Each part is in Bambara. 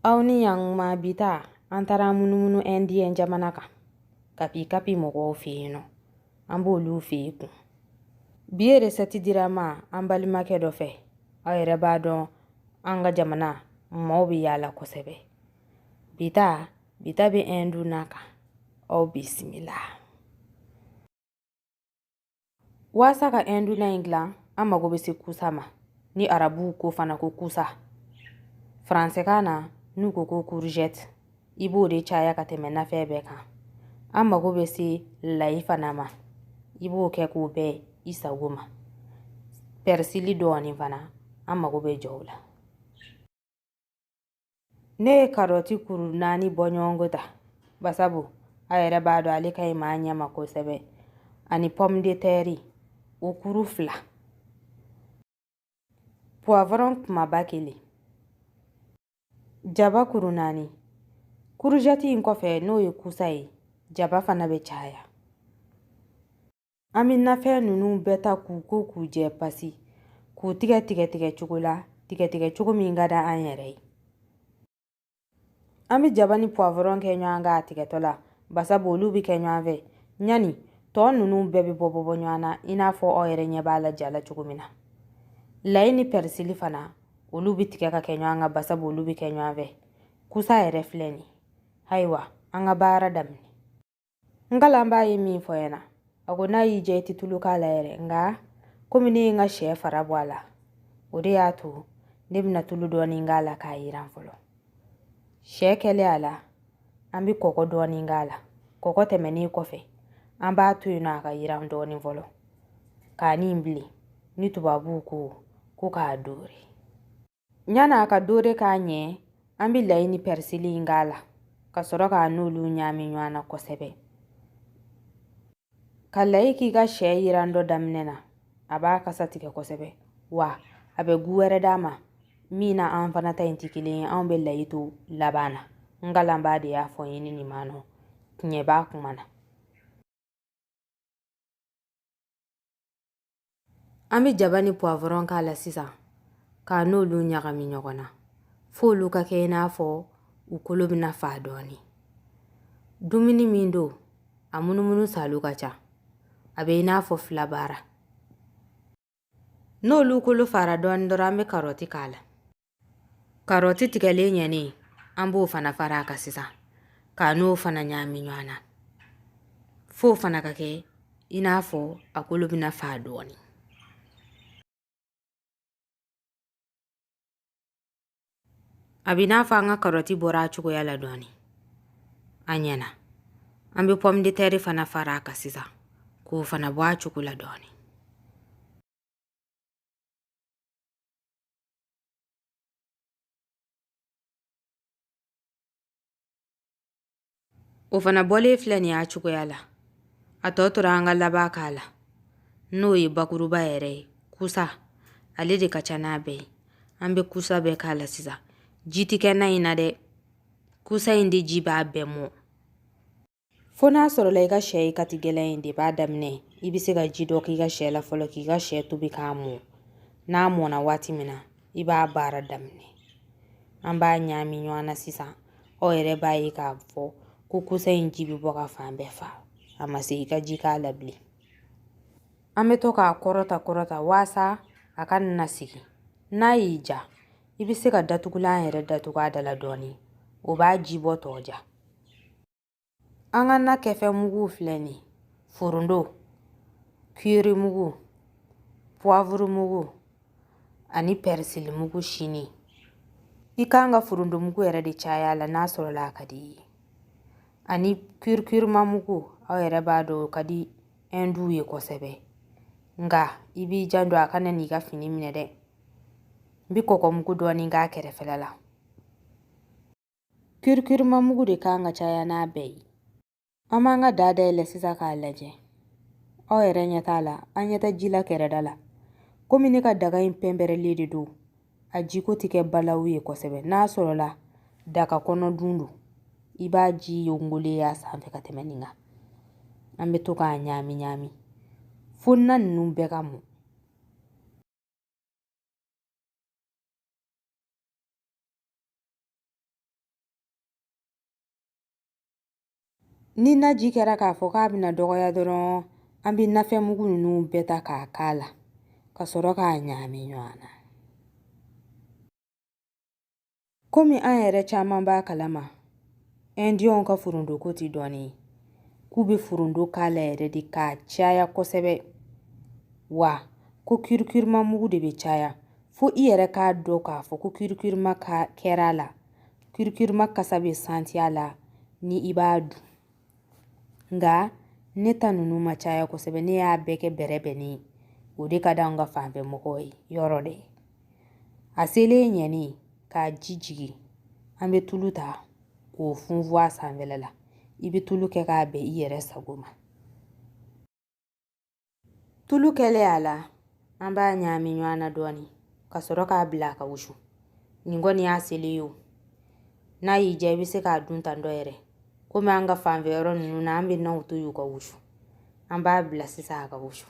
aw ni yankuma bi ta an taara munumunu indiɲɛ jamana kan kapi kapi mɔgɔw fɛ yen nɔ an b'olu fɛ yen kun bi ye resɛti dira n ma an balimakɛ dɔ fɛ aw yɛrɛ b'a dɔn an ka jamana maaw bɛ yaala kosɛbɛ bi ta bi ta bɛ ɛndu na kan aw bisimila Waasa ka Ɛndu na in dilan, an mago bɛ se kusa ma, ni arabuw ko fana ko kusa. Faransɛkan na, n'u ko ko courgette, i b'o de caya ka tɛmɛ nafɛn bɛɛ kan. An mago bɛ se layi fana ma, i b'o kɛ k'o bɛn i sago ma. Pɛrisili dɔɔnin fana, an mago bɛ jɔ o la. ne ye karɔti kuru naani bɔ ɲɔgɔnko ta basabu a yɛrɛ b'a dɔn ale ka ɲi maa ɲɛ ma kosɛbɛ ani pɔmu de tɛri o kuru fila puwavɔrɔn kumaba kelen jaba kuru naani kuruzɛti in kɔfɛ n'o ye kusa ye jaba fana bɛ caya An bɛ nafɛn ninnu bɛɛ ta k'u ko k'u jɛ pasi k'u tigɛ tigɛ tigɛ cogo la tigɛ tigɛ cogo min ka di an yɛrɛ ye an bɛ jaba ni puwavɔrɔn kɛ ɲɔgɔn kan a tigɛtɔ la basabu olu bɛ kɛ ɲɔgɔn fɛ ɲani tɔ ninnu bɛɛ bɛ bɔ bɔ bɔ ɲɔgɔn na i n'a fɔ aw yɛrɛ ɲɛ b'a la ja la cogo min na layi ni pɛrisili fana olu bɛ tigɛ ka kɛ ɲɔgɔn kan basabu olu bɛ kɛ ɲɔgɔn fɛ kusa yɛrɛ filɛ nin ayiwa an ka baara daminɛ n kalanbaa ye min fɔ n ɲɛna a ko n'a y'i diya i tɛ tulu k'a la yɛrɛ nka komi ne ye n ka sɛ fara bɔ a la o de y'a to ne bɛna tulu dɔɔnin k'a la k'a yiran fɔlɔ sɛ kɛlen a la an bɛ kɔgɔ dɔɔnin k'a la kɔgɔ tɛmɛnen kɔfɛ an b'a to yen nɔ a ka yiran dɔɔnin fɔlɔ k'a ɲɛ bilen ni tubabuw ko ko k'a doore Ɲani a ka dore ka ɲɛ an bɛ layi ni pɛrisili in k'a la ka sɔrɔ k'a n'olu ɲaami ɲɔgɔn na kosɛbɛ ka layi k'i ka sɛ yirantɔ daminɛ na a b'a kasa tigɛ kosɛbɛ wa a bɛ gu wɛrɛ d'a ma min n'an fana ta in tɛ kelen ye anw bɛ layi to laban na n kalanbaa de y'a fɔ n ye ni nin ma nɔ tiɲɛ b'a kuma na An bɛ jaba ni puwavɔrɔn k'a la sisan k'a n'olu ɲagami ɲɔgɔn na f'olu ka kɛ i n'a fɔ u kolo bɛna faa dɔɔnin dumuni min don a munumunu saalo ka ca a bɛ i n'a fɔ fila baara n'olu kolo faara dɔɔnin dɔrɔn an bɛ karɔti k'a la Karɔti tigɛlen ɲɛnen an b'o fana fara a kan sisan k'a n'o fana ɲagami ɲɔgɔn na f'o fana ka kɛ i n'a fɔ a kolo bɛna fa dɔɔnin a bɛ n'a fɔ an ka karɔti bɔra a cogoya la dɔɔnin a ɲɛna an bɛ pɔmudetɛri fana fara a kan sisan k'o fana bɔ a cogo la dɔɔnin o fana bɔlen filɛ nin y'a cogoya la a tɔ tora an ka laban k'a la n'o ye bakuruba yɛrɛ ye kusa ale de ka ca n'a bɛɛ ye an bɛ kusa bɛɛ k'a la sisan ji tɛ kɛ na in na dɛ kusa in de ji b'a bɛɛ mɔ fo n'a sɔrɔla i ka sɛ ye kati gɛlɛn in de b'a daminɛ i bɛ se ka ji dɔ k'i ka sɛ la fɔlɔ k'i ka sɛ tobi k'a mɔ n'a mɔna waati min na i b'a baara daminɛ an b'a ɲaami ɲɔgɔn na sisan aw yɛrɛ b'a ye k'a fɔ ko kusa in ji bɛ bɔ ka fan bɛɛ fa a ma se i ka ji k'a la bilen an bɛ to k'a kɔrɔta kɔrɔta waasa a kana sigi n'a y'i diya i bɛ se ka datugulan yɛrɛ datugu a da la dɔɔnin o b'a ji bɔtɔ ja An ka na kɛfɛn mugu filɛ nin ye forondo kiri mugu puwavuru mugu ani pɛrisili mugu sini i kan ka forondo mugu yɛrɛ de caya la n'a sɔrɔla a ka di i ye ani kirikirima mugu aw yɛrɛ b'a dɔn o ka di ɛnduw ye kosɛbɛ nka i b'i janto a kana n'i ka fini minɛ dɛ n bɛ kɔkɔmugu dɔɔni k'a kɛrɛfɛla la Kirikirima mugu de kan ka caya n'a bɛɛ ye. An b'an ka daa dayɛlɛ sisan k'a lajɛ. Aw yɛrɛ ɲɛ t'a la, an ɲɛ tɛ ji la kɛrɛda la. Komi ne ka daga in pɛnpɛrɛlen de don, a jiko tɛ kɛ balawu ye kosɛbɛ. N'a sɔrɔla daga kɔnɔ dun don, i b'a ji yongolen y'a sanfɛ ka tɛmɛ nin kan. An bɛ to k'a ɲaami ɲaami fo na ninnu bɛɛ ka mɔ. Ni naji kɛra k'a fɔ k'a bɛna dɔgɔya dɔrɔn an bɛ nafɛn mugu ninnu bɛɛ ta k'a k'a la ka sɔrɔ k'a ɲagami ɲɔgɔn na komi an yɛrɛ caman b'a kalama ɛndiyɛnw ka forondoko tɛ dɔɔnin ye k'u bɛ forondo k'a la yɛrɛ de k'a caya kosɛbɛ wa ko kirikirima mugu de bɛ caya fo i yɛrɛ k'a dɔn k'a fɔ ko kirikirima kɛra a la kirikirima kasa bɛ santi a la ni i b'a dun nka ne ta ninnu ma caya kosɛbɛ ne y'a bɛɛ kɛ bɛrɛbɛnnen ye o de ka d'an ka fanfɛ mɔgɔw ye yɔrɔ dɛ a selen ye yanni k'a ji jigin an bɛ tulu ta k'o funfun a sanfɛla la i bɛ tulu kɛ k'a bɛn i yɛrɛ sago ma Tulu kɛlen a la an b'a ɲaami ɲɔgɔn na dɔɔni ka sɔrɔ k'a bila a ka wusu nin kɔni y'a selen ye o n'a y'i diya i bɛ se k'a dun tan dɔ yɛrɛ komi an ka fanfɛ yɔrɔ ninnu na an bɛ naw to yen u ka wusu an b'a bila sisan a ka wusu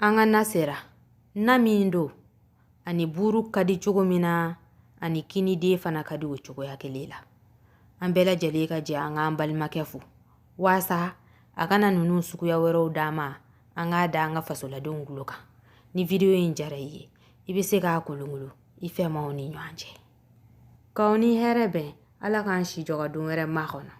An ka na sera na min don a ni buuru ka di cogo min na a ni kiniden fana ka di o cogoya kelen la an bɛɛ lajɛlen ka jɛ an k'an balimakɛ fo waasa a ka na ninnu suguya wɛrɛw d'an ma an k'a da an ka fasoladenw tulo kan ni video in jara i ye i bɛ se k'a kolonkolon i fɛmaw ni ɲɔgɔn cɛ k'aw ni hɛrɛ bɛn ala k'an si jɔ ka don wɛrɛ makɔnɔ